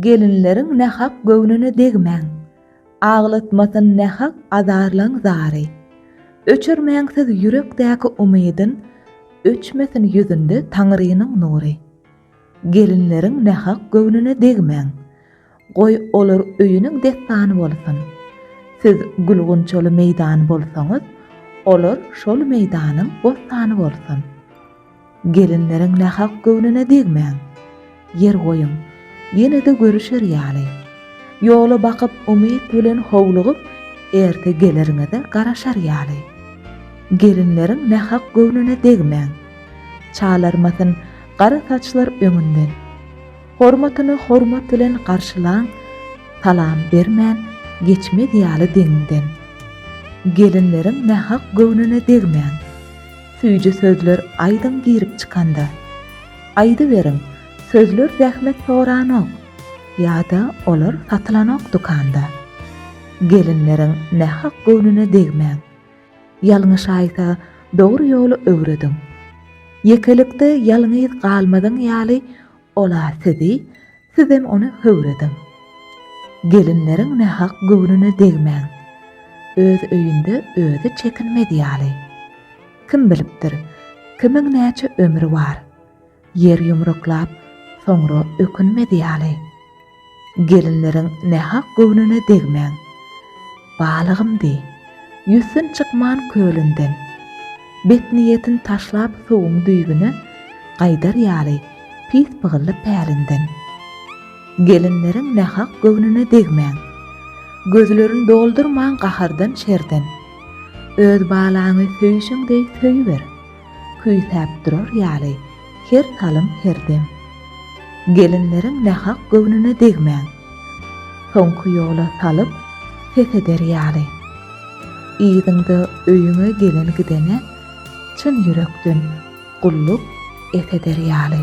Gelinleriň nähak göwnüne degmäň. Aglatmasyn nähak azarlaň zary. Öçürmäň siz ýürekdäki umydyn, Öçmesin ýüzünde Taňrynyň nury. Gelinleriň nähak göwnüne degmäň. Goý, olar öýüniň dessany bolsun. Siz gül-gunçaly meýdan bolsaňyz, Olar şol meýdanyň bossany bolsun. Gelinleriň nähak göwnüne degmäň. Ýer goýuň, ýene-de görüşer ýaly. Ýola bakyp umyt bilen howlugyp, erte geleriňize garaşar ýaly. Gelinleriň nähak göwnüne degmäň. Çalarmasyn gara saçlar öňünden. Hormatyny hormat bilen garşylaň, salam bermän geçmez ýaly deňiňden. Gelinleriň nähak göwnüne degmäň. Süýji sözler aýdyň girip çykanda. Aýdyberiň, sözler zähmet soranok, ýa-da olar satylanok dükanda. Gelinleriň nähak göwnüne degmäň. Ýalňyş aýsa, dogry ýoly öwrediň. Ýekelikde ýalňyz galmazyň ýaly Ola sizi, sizem ony höwrediň. Gelinleriň nähak göwnüne degmäň. Öz öýünde özi çekinmez ýaly. Kim bilipdir, kimiň näçe ömri bar. Ýer ýumruklap, soňra ökünmez ýaly. Gelinleriň nähak göwnüne degmäň. Balygym deý, ýüzsün çykman kölünden. Betniýetin taşlap suwuň düýbüne gaýdar ýaly pis pygylly pälinden. Gelinleriň nähak göwnüne degmäň. Gözlerin doldurmaň gahardan-şerden. Öz balaňy söýşüň deý söýüber. Küýsäp durar ýaly, her salym, her dem. Gelinleriň nähak göwnüne degmäň. Soňky ýola salyp, ses eder ýaly. Yzyňda öýüňe gelen-gidene çyn ýürekden gulluk et eder ýaly.